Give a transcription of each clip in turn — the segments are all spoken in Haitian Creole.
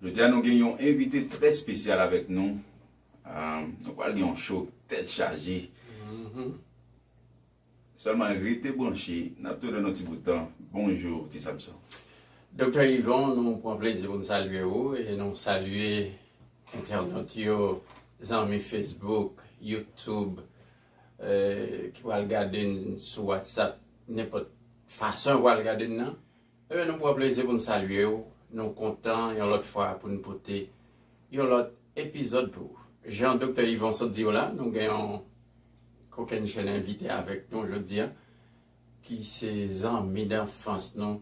Jodi a nou gen yon envite trè spesyal avèk nou. Nou pral gen yon show tèt chaje. Sèlman rete branche, n ap tounen nan ti bout tan. Bonjou Ti Samson. Doktè Yvon, nou pran plezi pou n salye ou e nou salye entènot yo, zanmi Facebook, YouTube ki pral gade n sou WhatsApp, nenpòt fason yo pral gade n nan. Ebyen nou pran plezi pou n salye w, nou kontan yon lòt fwa pou n pote yon lòt epizòd pou ou. Jan Doktè Yvon sot di w la, nou gen yon kokennchenn envite avèk nou jodi a, ki se zanmi danfans nou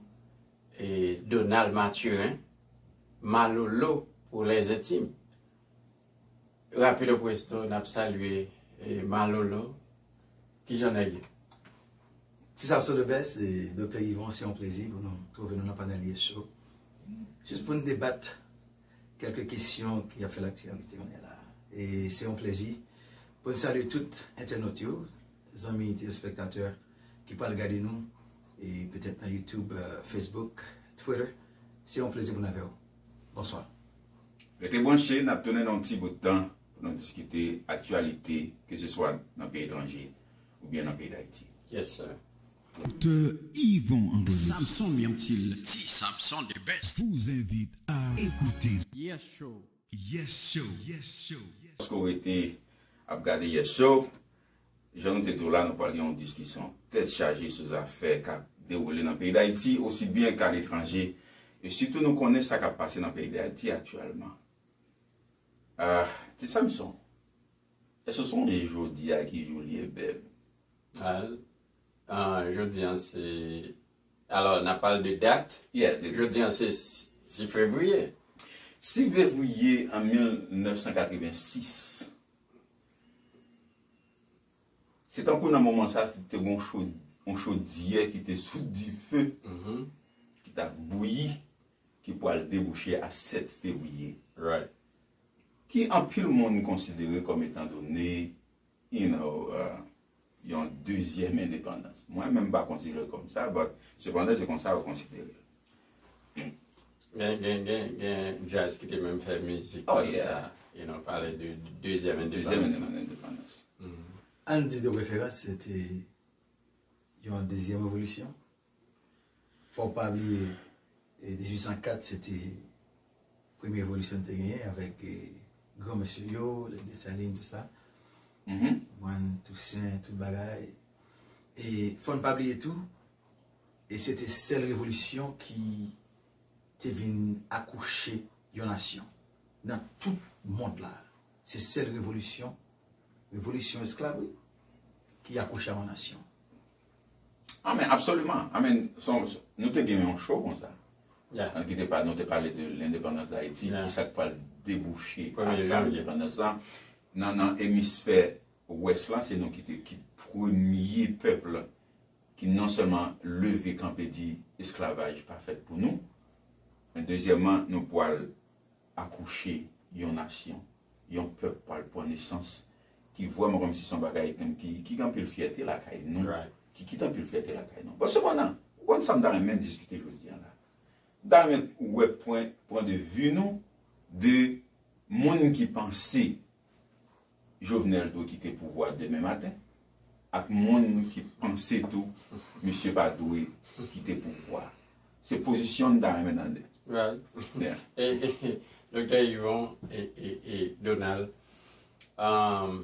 e Donald Mathurin, Malolo pou lèzentim. Rapido presto nap salye Malolo kijan nèg ye? Ti Samson the best e Doktè Yvon se yon plezi pou nou twouve nou nan panèl ye show jis pou nou debat kèlke kesyon ki ap fè laktyalite kounye la e se yon plezi pou nou salye tout entènot yo zanmi telespektatè ki pral gade nou e petèt nan youtube, facebook, twitter se yon plezi pou nou avèw. Bonswa. Rete branche, n ap tounen nan yon ti bout tan pou nou diskite aktyalite keseswa nan peyi etranje oubyen nan peyi Dayiti. Yes sir. Doktè Yvon André Samson yon ti l ti Samson the best. Vous invite à écouter. Yes show. Yes show. Yes show. Paske w rete ap gade Yes show. Jan nou te di w la, nou pral gen yon diskisyon tèt chaje sou zafè k ap dewoule nan peyi Dayiti osi byen k a letranje e sitou nou konnen sa k ap pase nan peyi Dayiti aktyèlman. Ah, Ti Samson, èske w sonje jodi a ki jou li ye beb? Ah, jodi an se, alò n ap pale de dat? Yeah, de dat. Jodi an se 6 fevriye. 6 vevriye an 1986. Se tankou nan moman sa a, te gen yon chodyè ki te sou dife, ki t ap bouyi, ki pral debouche a 7 fevriye. Ki anpil moun konsidere kòm etan done, you know, yon dezyèm endepandans. Mwen menm m pa konsidere l kòm sa but sepandan se konsa yo konsidere l. Gen gen gen gen jazz ki te menm fè mizik sou sa you know pale de dezyèm endepandans. Ann di de preferans se te yon dezyèm revolisyon. Fò w pa bliye 1804 se te premye evolisyon nou te genyen avèk gran mesye yo, lè Desalin tout sa, konprann, Tousen, tout bagay. E fò n pa bliye tou, e se te sèl revolisyon ki te vin akouche yon nasyon nan tout mond la. Se sèl revolisyon, revolisyon esklav wi, ki akouche yon nasyon. Amen, absoluman. Amen. Nou te gen yon show konsa. Ya. An kite pa nou te pale de l'independance d'Haiti. Ya. Ki sa k pral debouche. Premye janvye. Ak l'independance la. Nan nan emisfè ouest la se nou ki te ki premye peuple ki non seulement leve kanpe di esclavage pa fèt pou nou. Men dezyèman nou pwal akouche yon nasyon, yon pèp pwal pwan nesans ki vwèman kòm si son bagay menm ki ki gen anpil fyète lakay nou, ki kite anpil fyète lakay nou. Bon sepandan, ou konn sa m ta renmen diskite jodi an la? M ta renmen wè pwen pwen de vi nou de moun ki panse Jovenel t dwe kite pouvwa demen maten ak moun ki panse tou misye pa dwe kite pouvwa se pozisyon m ta renmen tande. Doktè Yvon e Donald m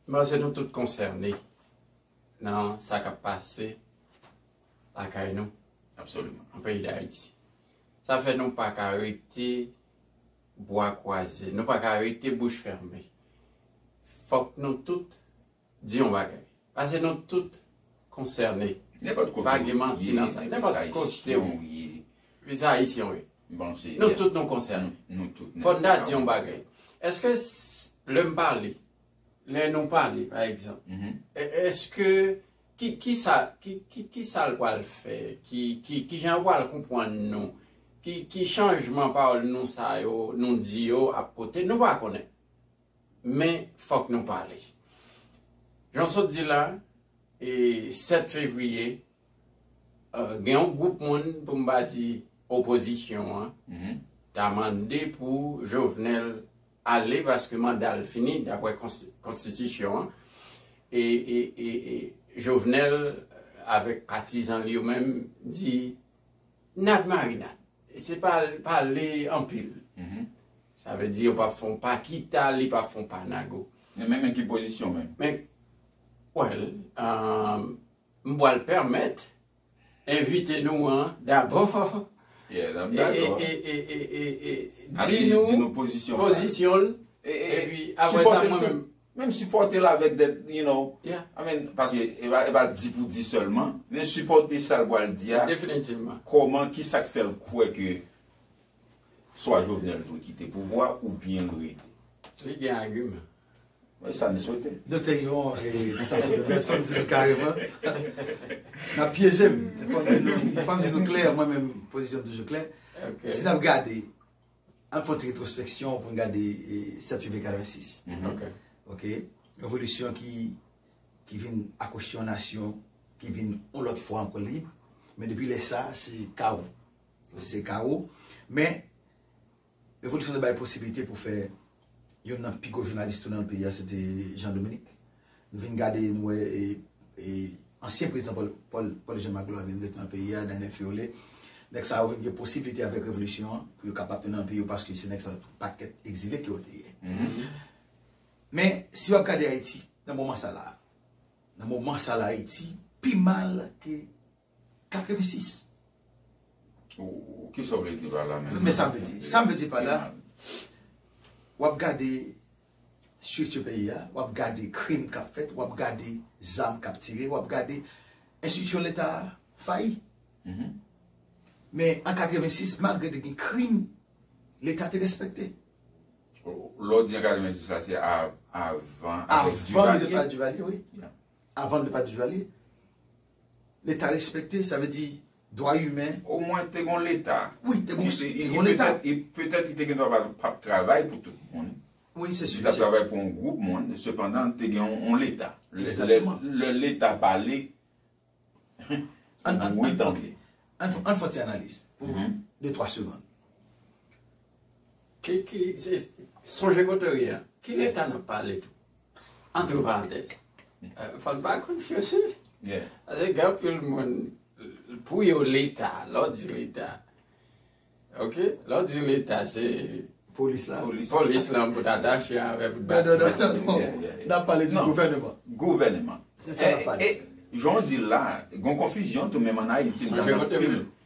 panse nou tout konsène nan sa k ap pase lakay nou nan peyi Dayiti sa fè nou pa ka rete bwa kwaze. Nou pa ka rete bouch fèmen. Fòk nou tout di yon bagay. Pase nou tout konsène. Nenpòt kote ou ye, nenpòt ayisyen ou ye. Plis ayisyen ou ye. Nou tout nou konsène. Fòk nou di yon bagay. Eske lè m pale, lè nou pale pa egzanp, eske Ki kisa ki kisal pwal fè ki ki kijan yo pwal konpwann nou ki ki chanjman pawòl nou sa yo nou di yo ap pote nou pa konnen men fòk nou pale jan sot di la e 7 fevriye gen yon gwoup moun pou m pa di opozisyon an ta mande pou Jovenel ale paske manda l fini dapre konstitisyon an e Jovenel avèk patizan l yo menm di nad marinad se pa pale anpil sa vle di yo pap fon pa kita li pap fon pa nago men menm ki pozisyon menm men wèl m pwal pèmèt envite nou an dabò di nou pozisyon l epi apre sa mwen menm. Menm sipòte l avèk de, you know, I mean, paske e pa di pou di sèlman, men sipòte sa l pral di a, kòman, ki sa k fè l kwè ke swa Jovenel dwe kite pouvwa oubyen l rete. Li gen agiman. Mwen sa m swete. Nou te yon distanse de best fòm di nou kareman nap pyeje m fòm di nou klè mwen menm pozisyon m toujou klè si nap gade ann fon ti retrospeksyon pou n gade 7 fevriye 86 ok revolisyon ki vin akouche yon nasyon ki vin yon lòt fwa anko lib men depi lè sa se kawo se kawo men Revolisyon te bay posibilite pou fè youn nan pi gwo jounalis tou nan peyi a se te Jean Dominique. Nou vin gade nou wè ansyen prezidan Paul Jean Magloire vin ret nan peyi a, Daniel Fiolet. Nèg sa yo vin gen posibilite avèk revolisyon an pou yo kapab tounen nan peyi yo paske se nèg sa yo tout pakèt egzile ke yo te ye. Men si w ap gade Ayiti nan moman sa la a, nan moman sa la a Ayiti pi mal ke 86. Ou ki sa w vle di pa la menm? Men sa m vle di. Sa m vle di pa la, w ap gade strikti peyi a, w ap gade krim k ap fèt, w ap gade zam k ap tire, w ap gade enstriksyon leta a fayi. Men an 86, malgre te gen krim, leta te respekte. Lè w di an 86 la, se avan epòk Duvalier? Avan epòk Duvalier, wi. Avan epòk Duvalier. Leta respekte, sa vle di dwa imen. O mwen te gon leta. Wi, te gon leta. E petèt li te gen dwa pa ap travay pou tout moun. Wi, se si. Li ta travay pou yon gwoup moun. Sepandan, te gen yon leta. Ekzatman. Le leta pale, ou dwe tande. An fon ti analiz. Pou de twa segonn. Sonje kote ou ye a. Ki leta n ap pale tou? Antre parantèz. Fòk ba konfyans wi. Ase gen anpil moun pou yo leta, lò di leta. Ok, lò di leta se polis la. Polis la pou ta dache avè pou ta. Non, non, non, non. Nan pale di gouvèneman. Gouvèneman. Se sa nan pale. Jan w di la, gon konfizyon tou menm an Ayiti.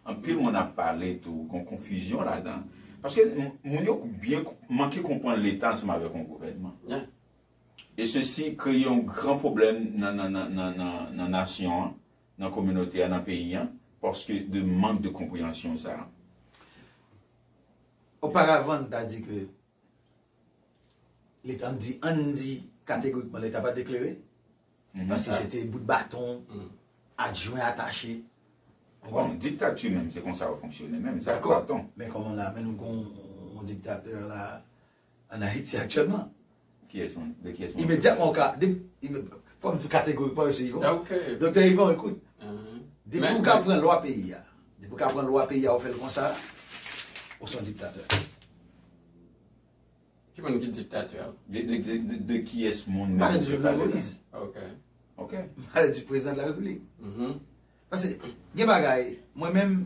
Anpil moun ap pale tou gon konfizyon ladan. Paske moun yo byen manke konprann leta ansanm avèk yon gouvènman. E sesi kreye yon gran pwoblèm nan nasyon an, nan kominote a, nan peyi an, paske de mank de konpreyansyon sa a. Oparavan n ta di ke leta, an n di kategorikman leta pa t eklere. Paske se te bout baton, adjwen atache. Bon, diktati menm se konsa yo fonksyone menm, se ak baton. Men kòman la, men nou gon yon diktatè la an Ayiti aktyèlman. Ki es yon? De ki es yon? Imedyatman ou ka, de, fòm di kategorikman yo se Yvon. Ok. Doktè Yvon, ekout. De pou ou ka pran lwa peyi a, de pou ou ka pran lwa peyi a ou fè l konsa, ou se yon diktatè. Ki moun ki diktatè a? De kiyès moun menm ou te pale la? Ok. Ok. M pale di prezidan de la repiblik. Mh. Pase gen bagay, mwen menm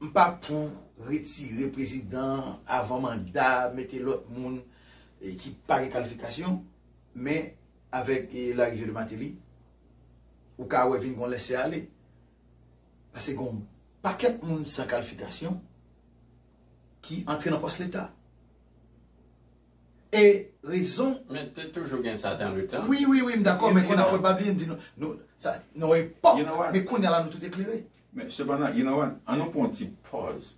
m pa pou retire prezidan avan manda, mete lòt moun ki pa gen kalifikasyon, men avèk larive de Mateli, ou ka wè vin gon lèse ale. Pase gon pakèt moun san kalifikasyon. ki antre nan pòs leta. E rezon. Men te toujou gen sa dan le tan. Wi, wi, wi, m dakò, men kounye a fòk n pa bliye m di nou, nou, sa, nan yon epòk, men kounye a la nou tout eklere. Men, sepandan, you know what, an nou pran yon ti pòz,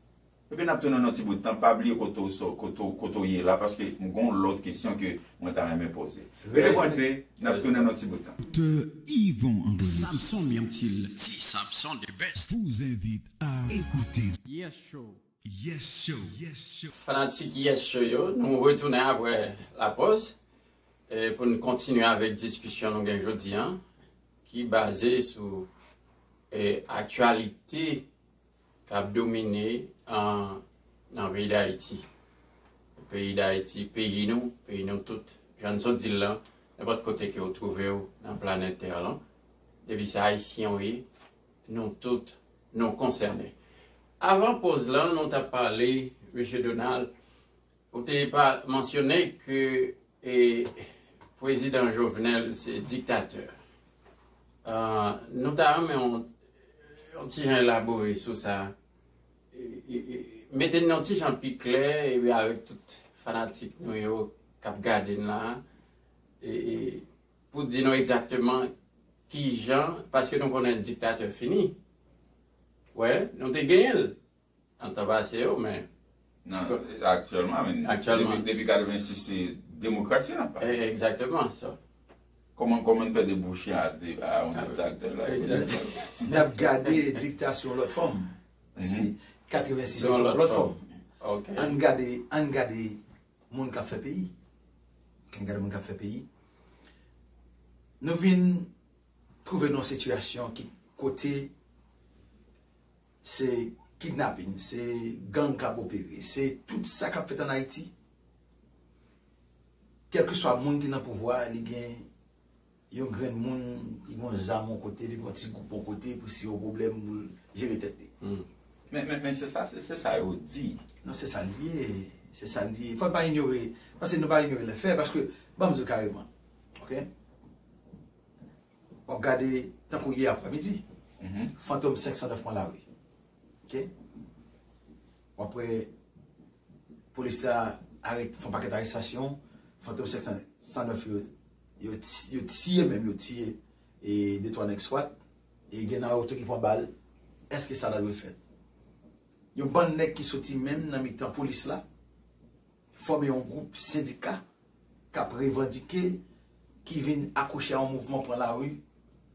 epi n ap tounen nan yon ti bout tan, pa bliye kote w sò, kote w, kote w ye la, paske m gen yon lòt kesyon ke mwen ta renmen poze. Rete konekte, n ap tounen nan yon ti bout tan. Doctor Yvon André Samson Myrtil Ti Samson the best vous invite Yes show. Yes show. Fanatik Yes Show yo, nou retounen aprè lapòz pou n kontinye avèk diskisyon nou gen jodi an ki baze sou aktyalite k ap domine nan peyi Dayiti. Peyi Dayiti, peyi nou, peyi nou tout, jan n sot di l lan, nenpòt kote ke ou twouve ou nan planèt tè lan, depi se Ayisyen ou ye, Nou tout nou konsène. Avan poz lan nou tap pale Mesye Donald ou te pa mansyone ke e pwezidan Jovenel se diktatè. Nou ta renmen ou yon ti jan elabore sou sa. Mete n yon ti jan pi klè epi avèk tout fanatik nou yo kap gade n la. pou di nou egzakteman ki jan, paske nou konnen diktatè fini. Wè, nou te genyen l, nan tan pase yo, men. Nan, aktyèlman, men. Aktyèlman. Depi 86, se demokrasi n ap pale. Egzakteman, sa. Kòman, kòman n fè debouche a yon diktatè la? Egzakteman. N ap gade dikta sou yon lòt fòm. Paske 86 se yon lòt fòm. Ok. An n gade, an n gade Moun kap fè peyi. Kèm gade moun kap fè peyi. Nou vin trouve nou an sitiyasyon ki kote se kidnapin, se gang kap opere, se tout sa kap fèt an Ayiti. Kèlke swa moun ki nan pouvwa li gen Yon grenn moun li gon zam yon kote, li gon ti gwoup yon kote pou si yon pwoblèm pou l jere tèt li. Men se sa, se sa yo di. Non se sa l ye, se sa l ye. Fò n pa inyore, pase nou pa inyore lè fè paske ban m di w kareman ok. W ap gade tankou yè aprèmidi Fantom 509 pran lari ok. W ap wè polis la fè yon pakèt arestasyon Fantom 509 yo Yo tiye menm yo tiye e de twa nèg swat e gen nan yo tou ki pran bal èske sa ta dwe fèt? Yon bann nèg ki soti menm nan mitan polis la fòme yon gwoup sendika k ap revandike ki vin akouche an mouvman pran lari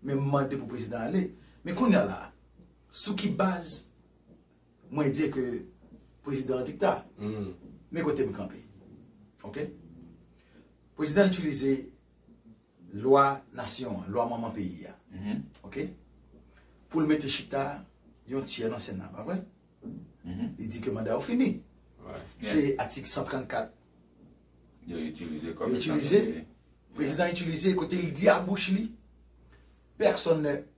menm mande pou prezidan ale men kounya la sou ki baz Mwen di ke prezidan an dikta. Men kote m kanpe. Ok? Prezidan itilize lwa nasyon an, lwa manman peyi a. Ok? Pou l mete chita yon tyè nan sena, pa vre? Li di ke manda yo fini. Se atik 134. Yo itilize kòm. Yo itilize. Prezidan itilize kote li di a bouch li. Pèsonn nè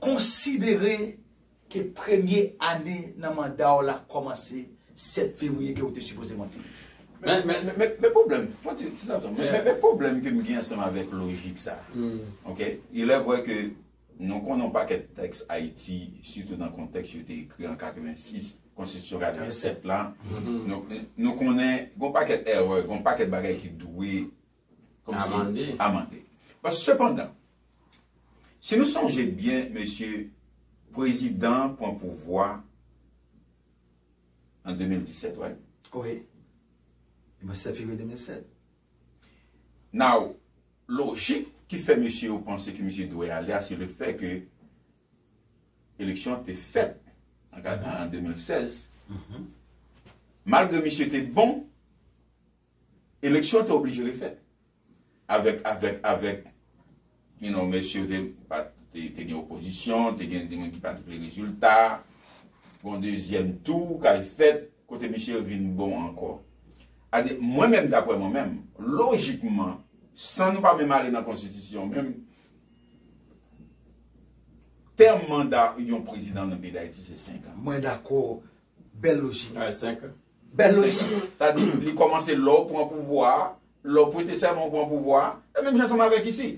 Konsidere ke premye ane nan manda w la kòmanse 7 fevriye ke ou te sipoze monte. Men pwoblèm, fon ti san tan, men pwoblèm ke m gen ansanm avèk lojik sa a, ok, ilè vrè ke nou konnen yon pakèt tèks Ayiti, sitou nan kontèks yo te ekri an 86, konstitisyon 87 la, nou konnen gen yon pakèt èrè, gen yon pakèt bagay ki dwe Amande. Amande. Bon, sepandan, si nou sonje byen, mesye, prezidan an pran pouvwa an 2017, wè? Wi. Li mwen 7 fevriye 2007. Now, lojik ki fè mesye yo panse ke misye dwe ale a, se le fè ke eleksyon an te fèt an 2016, malgre misye te bon, Eleksyon te oblije refèt. Avèk, avèk, avèk you know mesye yo te pat te gen opozisyon, te gen moun ki pat vle rezilta, yon dezyèm tou kal fèt kote mesye vin bon ankò. Ade, mwen menm daprè mwen menm, lojikman, san nou pa menm ale nan konstitisyon menm, tèm manda yon prezidan nan peyi Dayiti se 5 an. Mwen dakò, bèl lojik. Ay 5 an. Bèl lojik. Sa di, li kòmanse lè w pran pouvwa a, lè w prete sèman ou pran pouvwa a. E menm jan ansanm avèk isi.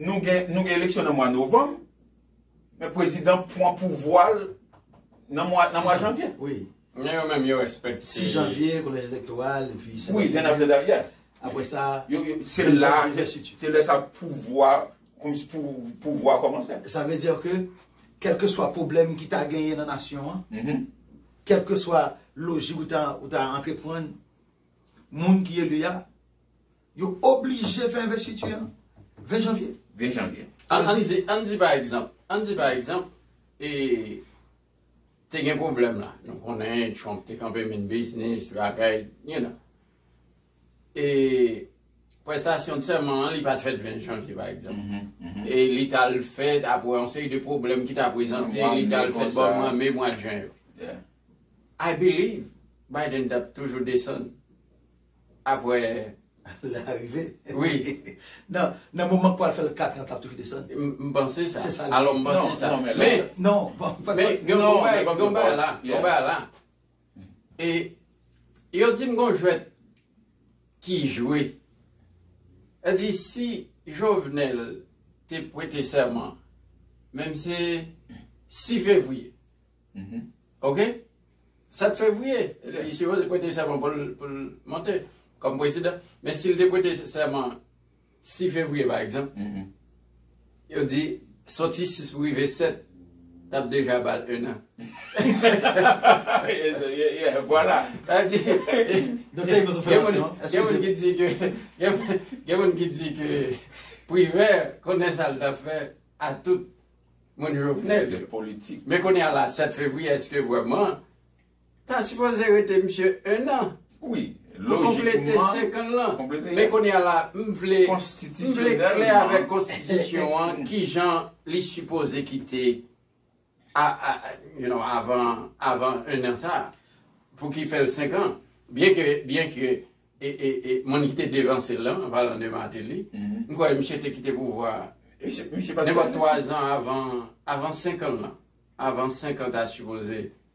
Nou gen, nou gen eleksyon nan mwa novanm, men prezidan pran pouvwa l nan mwa, nan mwa janvye. Wi. Men yo menm yo respekte. 6 janvye, kolèj elektoral, epi 7 janvye. Wi, gen apre dat, yeah. Apre sa, yo, yo, se la, se lè sa pouvwa, kòmsi pou, pouvwa kòmanse. Sa vle dire ke, kèlkeswa pwoblèm ki ta genyen nan nasyon an, Kèlkeswa lojik ou ta antreprann, moun ki eli a, yo oblije fè envestiti an 20 janvye. 20 janvye. An di pa egzanp, an di pa egzanp, e te gen pwoblèm la. Nou konnen Trump te kanpe min biznis, bagay, you know. e prestasyon sèman an li pat fèt 20 janvye pa egzanp e li tal fèt apre yon seri de pwoblèm ki ta prezante li tal fèt bò mwa me mwa jen yo I believe Biden tap toujou desann apre larive wi nan moman pwal fèl 4 an tap toujou desann m panse sa se sa li ye non men gen yon bagay la E yo di m gon jwèt ki jwe. Yo di si Jovenel te pwete sèman, menm se 6 fevriye. Ok? 7 fevriye, li sipoze pwete sèman pou l monte kòm pwezidan. Men si l te pwete sèman. 6 fevriye pa egzanp, yo di soti 6 pou rive 7, t ap deja ba l 1 an. Vwala. Sa di. Doktè Ivo sou fòmasyon. Gen moun ki di ke, gen moun ki di ke Privè konnen sa l t ap fè a tout moun Jovenel. Politik. Men kounye a la 7 fevriye, èske vwèman Ta sipoze rete misye 1 an wi pou konplete 5 an lan men kounya la m vle m vle klè avèk konstitisyon an kijan li sipoze kite a a you know avan avan 1 an sa pou ki fèl 5 an byen ke byen ke e e e moun ki te devanse l lan an palan de Martelly m kwè misye te kite pouvwa nenpòt 3 zan avan avan 5 an lan avan 5 an ta sipoze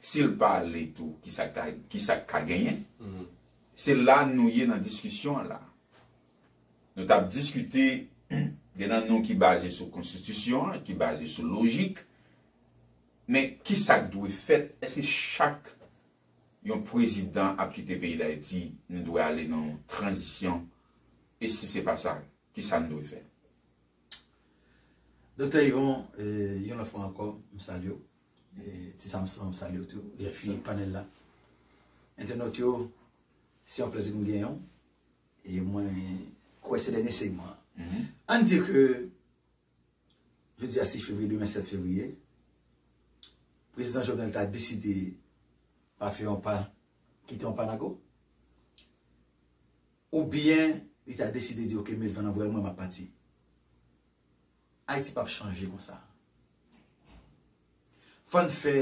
Sil pa ale tou kisa k ka genyen? Se la nou ye nan diskisyon an la. Nou t ap diskite gen nan nou ki baze sou konstitisyon an, ki baze sou lojik. Men kisa k dwe fèt? Eske chak yon prezidan ap kite peyi Dayiti nou dwe ale nan yon tranzisyon? E si se pa sa, kisa nou dwe fè? Doktè Yvon, yon lòt fwa ankò, m salye w. Ti Samson m salye w tou epi panel la. Entènot yo se yon plezi pou m gen yon e mwen kwè se dènye segman an. Ann di ke jodi a 6 fevriye demen 7 fevriye Prezidan Jovenel ta deside pa fè yon pa kite yon pa nago oubyen li ta deside di ok met van nan vwèl mwen m ap pati. Ayiti pap chanje konsa. Fò n fè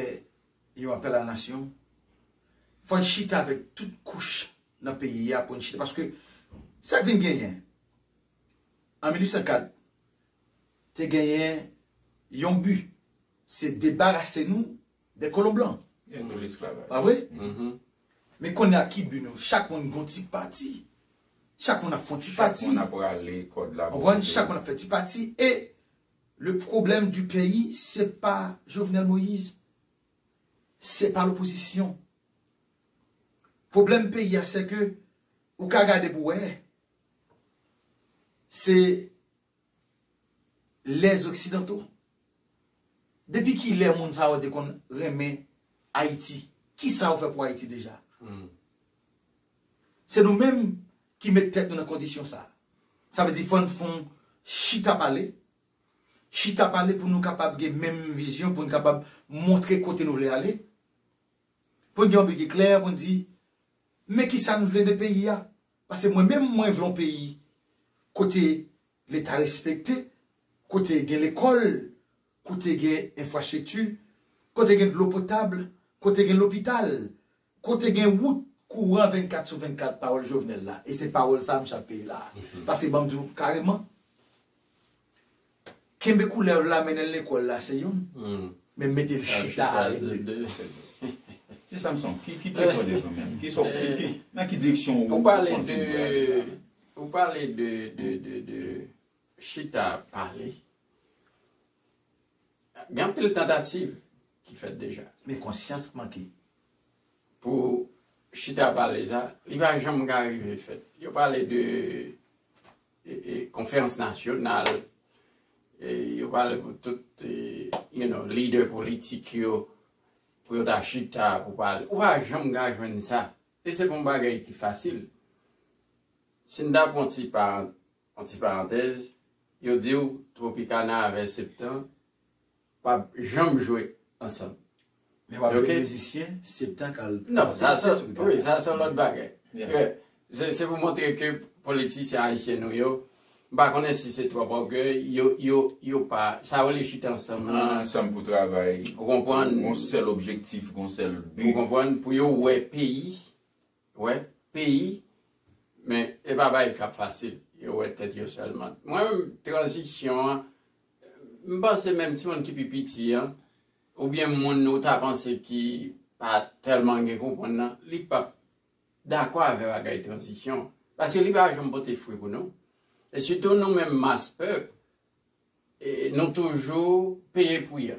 yon apèl a la nasyon, fò n chita avèk tout kouch nan peyi a pou n chita paske sa k vin genyen an 1804 te genyen yon bi se debarase nou Des colons blancs. E nou l'esclavage. Pa vre? Men kounye a ki but nou? Chak moun gon ti pati. Chak moun ap fon ti pati. Chak moun ap rale kòd la bò kote li. Chak moun ap fè ti pati. E le problème du pays se pa Jovenel Moïse. Se pa l'opposition. Problème peyi a se ke ou ka gade pou wè se Les occidentaux? Depi kilè moun sa yo te konn renmen Ayiti? Kisa yo fè pou Ayiti deja? Se nou menm ki met tèt nou nan kondisyon sa. Sa vle di fò n fon chita pale, chita pale pou nou kapab gen menm vizyon, pou n kapab montre kote nou vle ale, pou n gen yon bi ki klè, pou n di men kisa n vle de peyi a, Pase mwen menm mwen vle yon peyi kote leta respekte, kote gen lekol, kote gen enfrastrikti, kote gen dlo potab, kote gen lopital, kote gen wout, kouran 24 sou 24 pawol Jovenel la e se pawol sa msye ap peye la. Pase banm diw kareman. Kenbe koulèv la mennen l lekòl la se youn, men mete l chita a se de. Ti Samson, ki direksyon w bezwen menm? Ki sa w, ki, nan ki direksyon ou panse nou dwe ale la? Ou pale de, ou pale de, de chita ap pale. Gen anpil tantativ ki fèt deja. Men konsyans k manke. Pou chita ap pale sa, li pa janm ka rive fèt. Yo pale de konferans nasyonal, yo pale pou tout lidè politik yo, pou yo ta chita pou pale. Ou pa janm ka jwenn sa. E se pa yon bagay ki fasil. Si n ta pran yon ti parantèz, yo di w Tropicana avè Septen Pap janm jwe ansanm. Men wap jwe mizisyen septen kal. Non sa se wi sa se lòt bagay. Se pou montre ke politisyen ayisyen nou yo m pa konnen si se twòp ògèy yo pa sa yo le chita ansanm lan. Ansanm pou travay. Ou konprann. Gon sèl objektif gon sèl bi. Ou konprann pou yo wè peyi. Ou wè peyi men e pa bagay kap fasil yo wè tèt yo sèlman. Mwen menm tranzisyon an m panse menm timoun ki pi piti an oubyen moun ou ta panse ki pa tèlman gen konprann nan li pap dakò avè bagay tranzisyon an paske li pa janm pote fri pou nou e sitou nou menm mas pèp nou toujou peye pri a.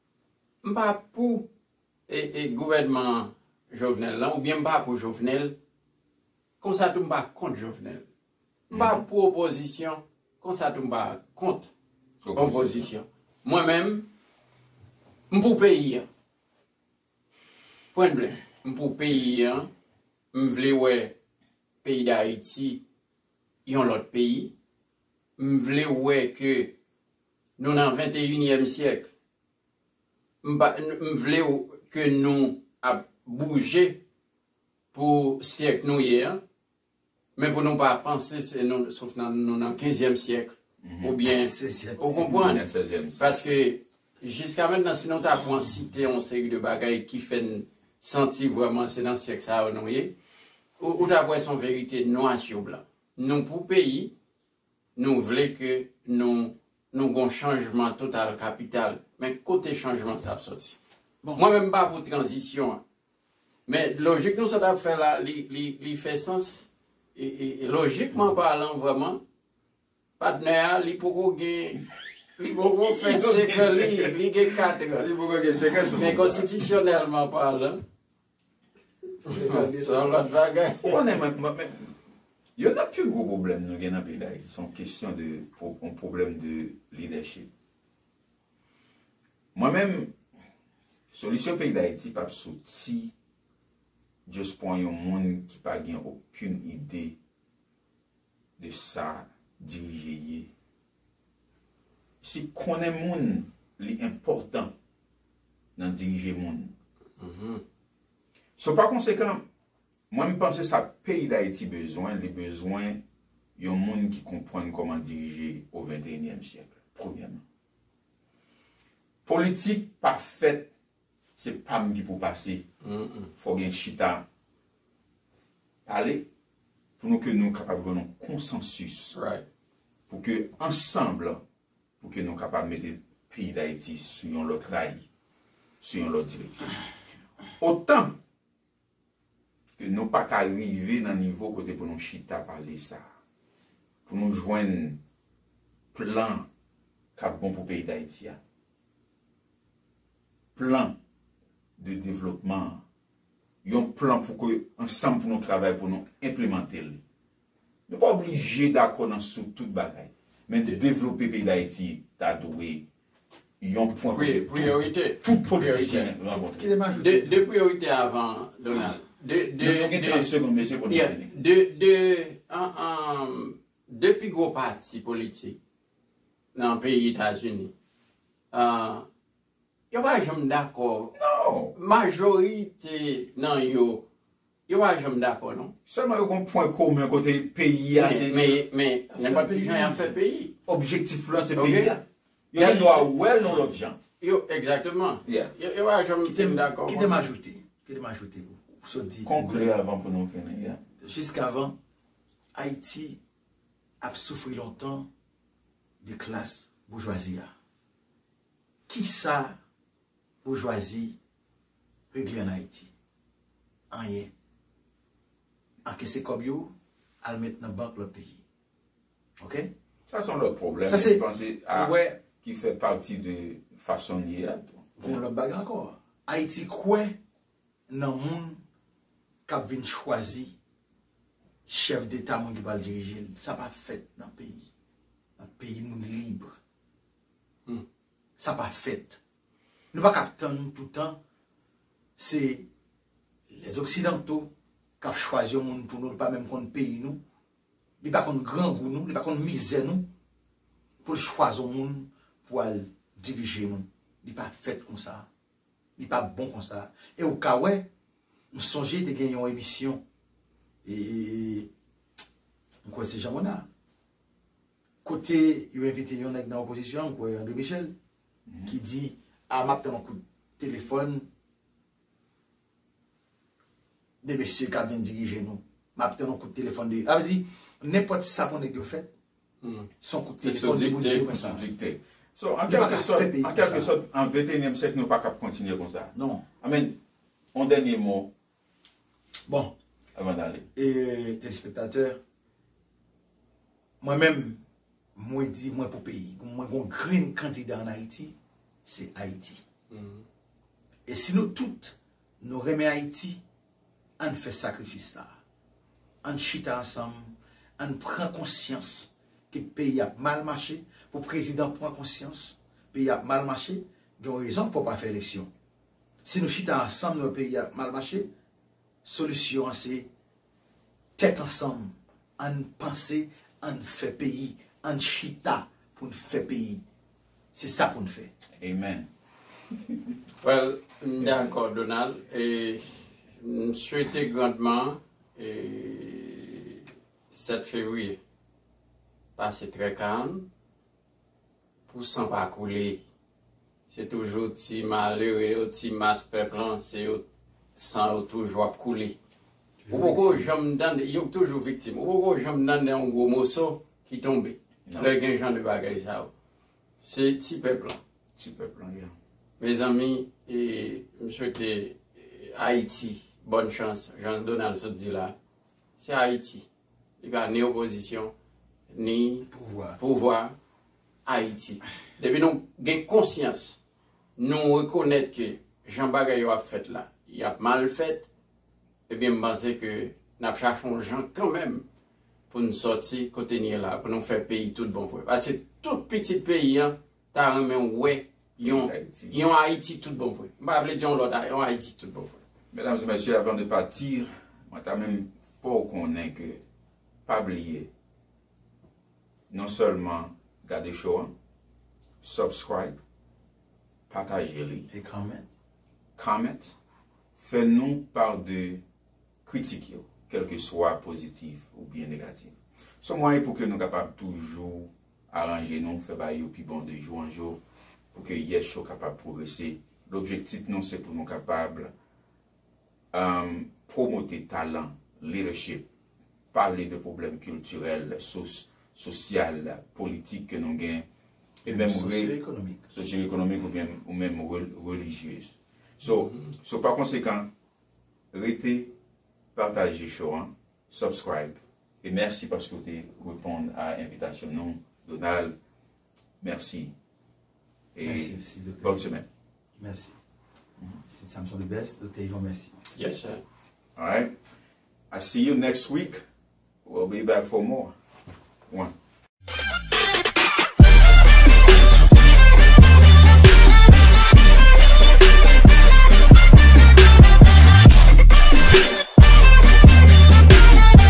M pa pou gouvènman Jovenel lan oubyen m pa pou Jovenel, konsa tou m pa kont Jovenel. M pa pou opozisyon, konsa tou m pa kont opozisyon. Mwen menm, m pou peyi an. Pwen ble. M pou peyi an, m vle wè peyi Dayiti yon lòt peyi. M vle wè ke Nou nan venteyinyèm syèk. M pa m vle w ke nou ap bouje pou syèk nou ye an, men pou nou pa panse se nou sof nan nou nan kenzyèm syèk oubyen ou konprann paske jiska mentnan si nou ta pran site yon seri de bagay ki fè n santi vrèman se nan syèk sa yo nou ye ou ta p wè se yon verite nwa sou blan. Nou pou peyi Nou vle ke nou nou gon chanjman total kapital. Men kote chanjman sa ap soti? Bon, mwen menm m pa pou tranzisyon an. Men lojik nou sot ap fè la, li, li, li fè sans. E, e, e lojikman palan vrèman, patnè a li poko gen, li poko fè senk an li, li gen katrè. Li poko gen senk an sou pouvwa a. Men konstitisyonèlman palan. Se yon lòt bagay. Ou konnen mwen, mwen men, youn nan pi gwo pwoblèm nou gen nan peyi Dayiti, se yon kesyon de, yon pwoblèm de lidèchip. Mwen menm, solisyon peyi Dayiti pap soti just pwan yon moun ki pa gen okenn ide de sa dirije ye. Si konnen moun li enpòtan nan dirije moun. So pa konsekan, mwen m panse sa peyi Dayiti bezwen, li bezwen yon moun ki konprann kòman dirije o venteyinyèm syèk, premyèman. Politik pa fèt Se pam ki pou pase fò gen chita pale pou nou ke nou kapab jwenn yon konsansis pou ke ansanb pou ke nou kapab mete peyi dayiti sou yon lòt ray sou yon lòt direksyon otan Ke nou pa ka rive nan nivo kote pou nou chita pale sa. Pou nou jwenn plan k ap bon pou peyi Dayiti a. Plan de devlopman an. Yon plan pou ke ansanm pou nou travay pou nou enplemante l. Nou pa oblije dakò nan sou tout bagay. Men devlope peyi Dayiti ta dwe yon pwen kote tout politisyen rankontre. De priyorite avan, Donald. Nou gen 30 segonn, mesye, pou nou fini. De, de pi gwo pati politik nan peyi Etazini, yo pa janm dakò. Non! Majorite nan yo Yo pa janm dakò non. Sèlman yo gon pwen komen kote peyi a se. Men, men, nenpòt ki jan y ap fè peyi. Objektif lan se peyi a. Yo gen dwa wè l yon lòt jan. Yo, egzakteman. Yo pa janm fin dakò. Kite m ajoute, kite m ajoute pou w sot di. Konkli avan pou nou fini, ya. Jiskavan, Ayiti ap soufri lontan de klas boujwazi a. Kisa boujwazi regle an Ayiti? Anyen. Ankese kòb yo, al met nan bank lòt peyi. Ok? Sa se yon lòt pwoblèm, men m panse a ki fè pati de fason n ye a tou. Gen yon lòt bagay ankò. Ayiti kwè nan moun k ap vin chwazi chèf deta moun ki pral dirije l. Sa pa fèt nan peyi. Nan peyi moun libre. Sa pa fèt. Nou pa ka ap tann toutan se les occidentaux kap chwazi yon moun pou nou li pa menm konn peyi nou, li pa konn grangou nou, li pa konn mizè nou pou l chwazi yon moun pou al dirije nou. Li pa fèt konsa. Li pa bon konsa. E ou ka wè, m sonje te gen yon emisyon e m kwè se Jean Monard kote yo envite yon nèg nan opozisyon an, m kwè André Michel, ki di a map tann yon kout telefòn de mesye kap vin dirije nou map tann yon kout telefòn de avè di nenpòt sa pou nèg yo fè son kout telefòn de Bondye mwen sa so an kèlke sòt an kèlke sòt an ventenyèm syèk nou pa kap kontinye konsa amèn yon dènye mo Bon, avan dale. E telespektatè, mwen menm, mwen di mwen pou peyi. Mwen gon grenn kandida an Ayiti, se Ayiti. E si nou tout, nou renmen Ayiti, ann fè sakrifis la. Ann chita ansanm, ann pran konsyans ke peyi ap mal mache, pou prezidan pran konsyans, peyi ap mal mache, gen yon rezon fò pa fè eleksyon. Si nou chita ansanm nou wè peyi a ap mal mache, solisyon an se tèt ansanm ann panse ann fè peyi ann chita poun fè peyi se sa poun fè. Amen. Well m dakò Donald e m swete grandman 7 fevrier pase trè kalm. Pou san pa koule. Se toujou ti malere yo, ti mas pèp lan, se yo san yo toujou ap koule. Ou poko janm tande, yo toujou viktim. Ou poko janm tande yon gwo moso ki tonbe. Lè gen jan de bagay sa yo. Se ti pèp lan. Ti pèp lan yo. Mezanmi, m swete Ayiti bòn chans, jan Donald sot di la. Se Ayiti. Li pa ni opozisyon, ni pouvwa Ayiti. Depi nou gen konsyans, nou rekonèt ke jan bagay yo ap fèt la, y ap mal fèt, ebyen m panse ke n ap chache yon jan kanmenm pou n sòti kote n ye la, pou nou fè peyi tout bon vre. Paske tout pitit peyi an. ta renmen wè yon yon Ayiti tout bon vre. M pa vle di yon lòt Ayiti, yon Ayiti tout bon vre. Medam e mesye, avan de pati, mwen ta menm fè w konnen ke pa bliye non sèlman gade show an, subscribe, pataje li, e comment, comment, fè nou part de kritik yo, kelkeswa pozitif oubyen negatif. Son mwayen pou ke nou kapab toujou Aranje nou, fè bagay yo pi bon de jou an jou pou ke Yes Show kapab pwogrese. Lobjektif nou se pou nou kapab pwomote talan, leadership, pale de pwoblèm kiltirèl, sosyal, politik ke nou gen, e menm sosyoekonomik ou menm relijye. So pa konsekan, rete, pataje show an, subscribe, E mèsi paske w te reponn a envitasyon nou Donald. Mèsi. E bòn semèn. Mèsi. Sid Samson the best. Doktè Yvon mèsi. Yes sir. Alright. I see you next week. We'll be back for more. One.